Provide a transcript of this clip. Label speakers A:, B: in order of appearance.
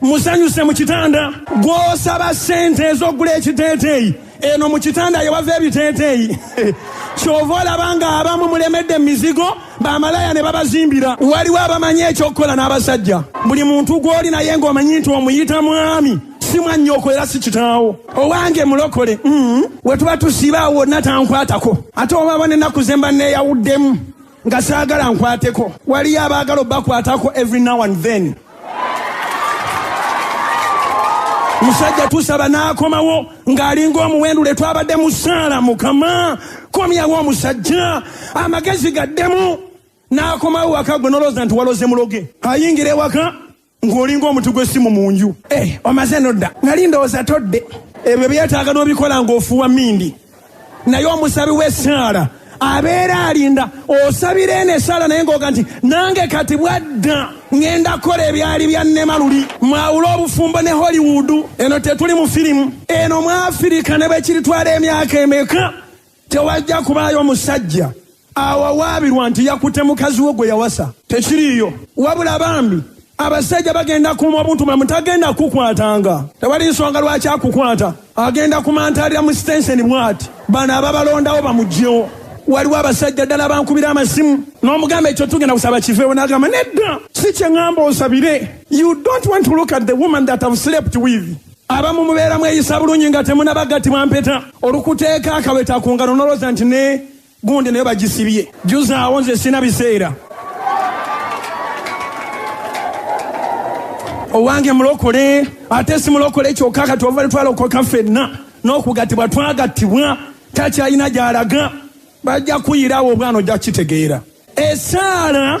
A: musanyuse mu kitanda gw'osaba ssente ez'okugula ekiteeteeyi eno mu kitanda yewava ebiteeteeyi kyova olaba nga abamu mulemedde mu mizigo bamalaya ne babazimbira waliwo abamanyi ekyokukola n'abasajja buli muntu gw'oli naye ng'omanyi nti omuyita mwami si mwannyoko era si kitaawo owange mulokole mm. we tuba tusiba wonna tankwatako ate obaba n'ennaku ze mba neeyawuddemu nga saagala nkwateko waliyo abaagala obakwatako every now and then musajja tusaba n'akomawo ng'alinga omuwendule twabadde mu saala mukama komyawo omusajja amagezi gaddemu n'akomawo waka gwe nolowooza nti waloze muloge ayingira ewaka ng'olinga omuti gw'essimu mu nju eh, omaze nodda nali ndowooza todde ebyo byetaaga n'obikola ng'ofuuwa mindi naye omusabi w'essaala abeera alinda osabira eno esaala naye ngaoga nti nange kati bwadda ŋenda kukola ebyali bya nema luli mwawule obufumbo ne hollywood eno tetuli mu firimu eno mu afirika ne bwe kiritwala emyaka emeka tewajja kubaayo musajja awawaabirwa nti yakutte mukazi we gwe yawasa tekiriiyo wabula bambi abasajja bagenda kuuma obuntu mwe mutagenda kukwatanga tewali nsonga lwaki akukwata agenda kumantalira mu sitenseni bwati bano ababalondawo bamugyewo waliwo abasajja ddala bankubira amasimu n'omugamba ekyo tugenda kusaba kiveewo n'agamba nedda si kye ŋŋamba osabire you don't want to look at the woman that have slept with abamu mubeera mweyisa bulungi nga temunabagattibwa mpeta olukuteeka akaweta ku ngalo noloza nti ne Gundi nayo bagisibye. Juzaawo nze sina biseera. Owange mulokole ate si mulokole kyokka kati ova twalokoka ffenna n'okugattibwa twagattibwa takyalina gy'alaga bajja kuyirawo obwana ojja kukitegeera esaala